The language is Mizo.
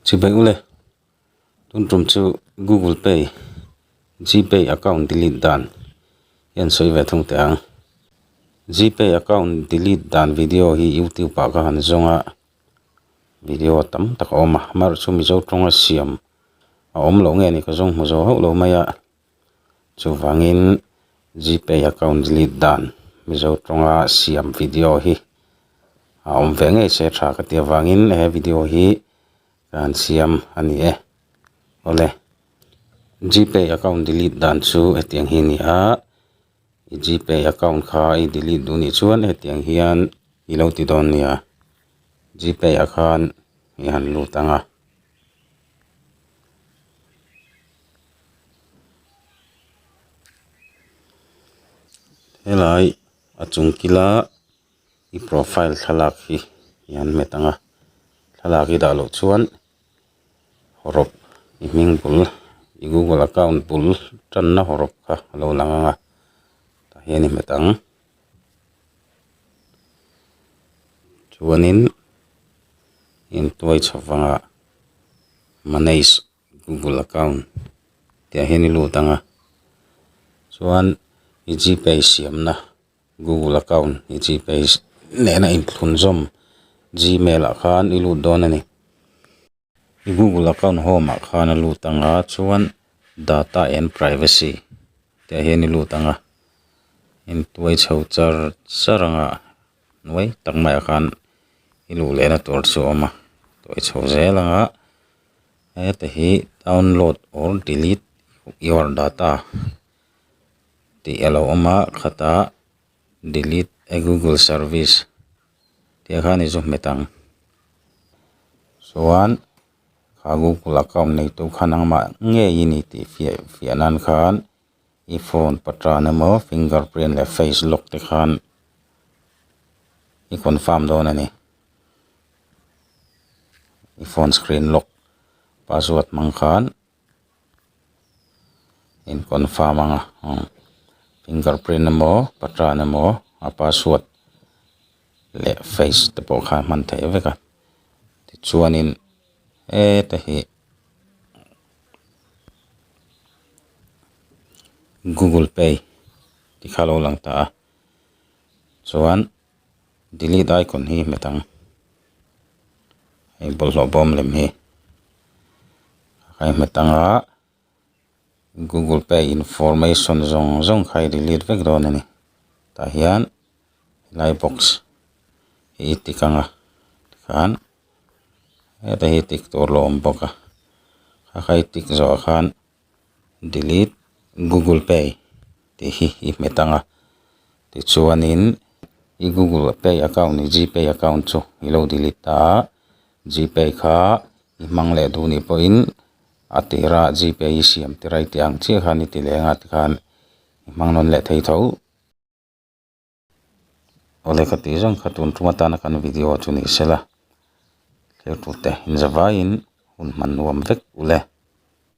Chhibaih ule, tun tum chu Google Pay, GPay account delete dan hian sawi ve thung teh ang. GPay account delete dan video hi YouTube ah ka han zawng a, video tam tak a awm a, March chu Mizo tawnga siam a awm loh nge ni ka zawng hmu zo hauh lo mai a. Chuvangin GPay account delete dan Mizo tawnga siam video hi a awm ve ngei se tha ka tia vangin he video hi ka han siam a ni e. Awle GPay account delete dan chu hetiang hi a ni a. I gpay account kha i delete duh nih chuan hetiang hian i lo ti dawn nia gpay ah khan i han lut ang a. Helai a chung kila i profile thlalak hi i han met ang a thlalak hi dah loh chuan-- rop i hming bul i google account bul tanna haw rop kha a lo lang anga tah hian i hmet ang chuanin heng tuai chhak vanga manage google account tih ah hian i lut anga chuan i gpay siamna. Google account i GPay nena inthlun zawm Gmail ah khan i lut dawn a ni. I Google account home ah khan a lut ang a, chuan Data and Privacy tih ah hian i lut ang a, in tuai chho char char ang a, nuai tak mai ah khan i luh leh na tur chu a awm a, tuai chho zel ang a, heta hi download or delete your data. tih a lo awm a khatah delete a google service tih a khan i zâwm hmet ang chuan kha google account neitu khan ang mah ngei i ni tih fiah fiah nân khan i phone patan emaw finger print leh face lock te khan i confirm dâwn a ni i phone screen lock password hmang khan. in confirm anga umm finger print emaw pattern emaw a password leh face te pawh kha hman thei vek a tichuanin heta hi Google pay tikha lo lang ta a chuan-- delete icon hi hmet ang hei bawlhhlawh bawm lem hi khai hmet ang a google pay information zawng zawng kha i delete vek dawn a ni tah hian helai box hi i tik ang a tikhan heta hi i tik tur lo awm bawk a kha i tik zawh ah khan-- delete google pay tih hi i hmet ang a tichuan in i google pay account leh g pay account chu i lo delete ta a g pay kha i hmang leh duh nih pawh in a tir a g pay i siam tir a i tih ang chiah khan i ti leh anga tikhan i hmang nawn leh thei tho aw lehkha tih zawng kha tun ṭum atana kan video chu ni se la thlir ṭute inzavaiin hun hman nuam vek uleh.